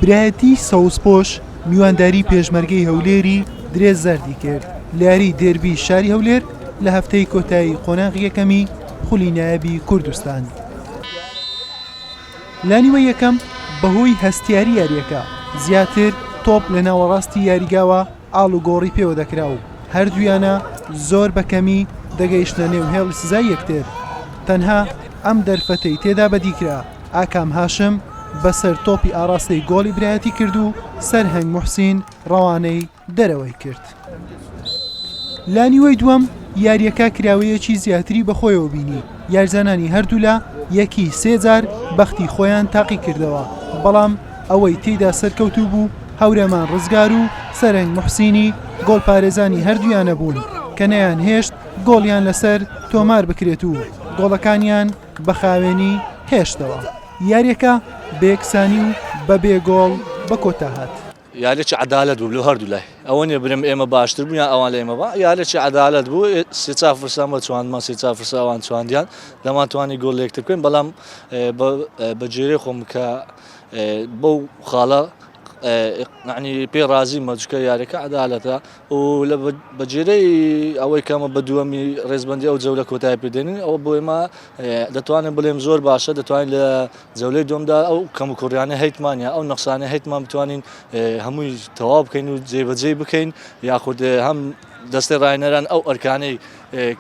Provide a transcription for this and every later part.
برایەتی سەوزپۆش میوانداری پێشمەرگەی هەولێری درێ زەردی کرد لاری دێربی شاری هەولێر لە هەفتەی کۆتایی قۆناغ یەکەمی خولی نایبی کوردستان لانیوە یەکەم بەهۆی هەستیاری یاریەکە زیاتر تۆپ لە ناوەڕاستی یاریگاوە ئاڵوگۆڕی پێوە دەکرا و هەردوویانە زۆر بە کەمی دەگەیشتنە نێو هێڵی سزای یەکتر. تەنها ئەم دەرفەتەی تێدا بەدی کرا، ئاکام هاشم بە سەر تۆپی ئاڕاستەی گۆڵی برایەتی کرد و سەرهەنگ موحسین ڕەوانەی دەرەوەی کرد. لانیوەی دووەم یارییەکە کراوەیەکی زیاتری بەخۆیەوە بینی، یاریزانانی هەردوولا یەکی سێ جار بەختی خۆیان تاقیکردەوە، بەڵام ئەوەی تێیدا سەرکەوتوو بوو هەورەمان رزگار و سەرەنگ موحسینی گۆڵپارێزانی هەردوویانە بوون کە نەیانهێشت گۆڵیان لەسەر تۆماربکرێت و گۆڵەکانیان بە خاوێنی هێشتەوە. یارییەکە بە یەکسانی و بەبێ گۆڵ بەکۆتاهات. یارێکی عەدالەت بوو لۆ هەردوو لای ئەوە نیە برێم ئێمە باشتر بوو یان ئەوان لە ئێمە با یارێکی عەدالەت بوو سێ چا فرسان بە چواندمان سێ چا فرسە ئەوان چواندیان دەمان توانی گۆڵ لێکتر بکەین بەڵام بە جێرەی خۆم کە بەو خاڵە عنی پێ ڕازی مەجکە یارەکە عدالەتە و لە بەجێرەی ئەوەی کەمە بە دووەمی ڕێزبندی ئەو جەولە کۆتای پێدێنین ئەوە بۆ ئێمە دەتوانێت بڵێم زۆر باشە دەتوانین لە جەولەی دووەمدا ئەو کەموکوڕیانە هەیتمانە ئەو نەخسانە هەیتمان بتوانین هەمووی تەواو بکەین و جێبەجێ بکەین یاخود هەم دەستی ڕاینەران ئەو ئەرکانەی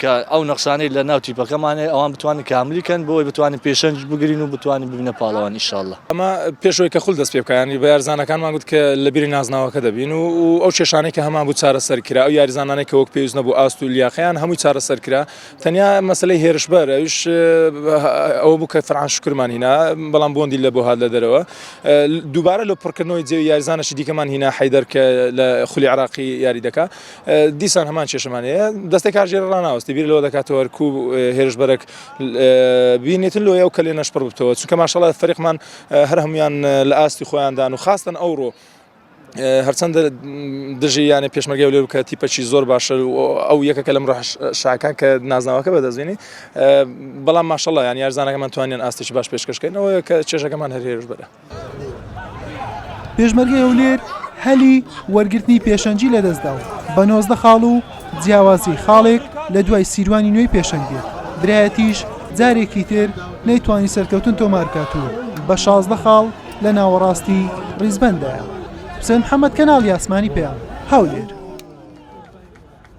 کە ئەو نەخسانەی لە ناو تیپەکەمانێ ئەوان بتوانین کاملی کەن بۆی بتوانین پێشەنج بگرین و بتوانین ببینە پاڵەوان ئیشاءله ئەمە پێشەوەی کە خول دەست پێ بکەیانی بە یارزانەکانمان گوت کە لە بیری نازناوەکە دەبین و ئەو کێشانەی کە هەمان بوو چارەسەر کرا ئەو یاریزانانێک کە وەک پێویست نەبوو ئاست و لیاقیان هەمووی چارەسەر کرا تەنیا مەسەلەی هێرشبەر ئەوش ئەوە بوو کە فەرعان شکرمان هینا بەڵام بۆندی لە بۆ هاات لە دەرەوە دووبارە لە پڕکردنەوەی جێوی یاریزانەشی دیکەمان هینا حیدەر کە لە خولی عراقی یاری دەکا دیسان هەمان کێشمان هەیە دەستی کارژێر ڕناوەستی بیر لەوە دەکاتەوە کو هێرشبەرەك بینێتن لۆ ئەو کە لێ نەشپڕ بتەوە چونکە ماشەڵە فەرقمان هەر هەموان لە ئاستی خۆیاندان و خاستن ئەوڕۆ هەرچەندە دژی یانە پێشمەرگە هەولێر و کە تیپەکی زۆر باشە ئەو یەکەکە لەم ڕۆژ شاکان کە نازناوەکە بەدەستبێنی بەڵام ماشەڵڵا یان یارزانەکەمان توانیان ئاستێکی باش پێشکەشکردنەوە کە چێژەکەمان هەرێرش بەرە پێشمەرگە هەولێر هەلی وەرگرتنی پێشەنجی لەدەستدا و بە نۆزدە خاڵ و جیاوازی خاڵێک لە دوای سیروانی نوێی پێشەنگێت برایەتیش جارێکی تر نەیتوانی سەرکەوتن تۆمارکات و بە شازدە خاڵ لە ناوەڕاستی ڕیزبەندایە. حوسێن محەمەد کەناڵی ئاسمانی پەیام، هەولێر.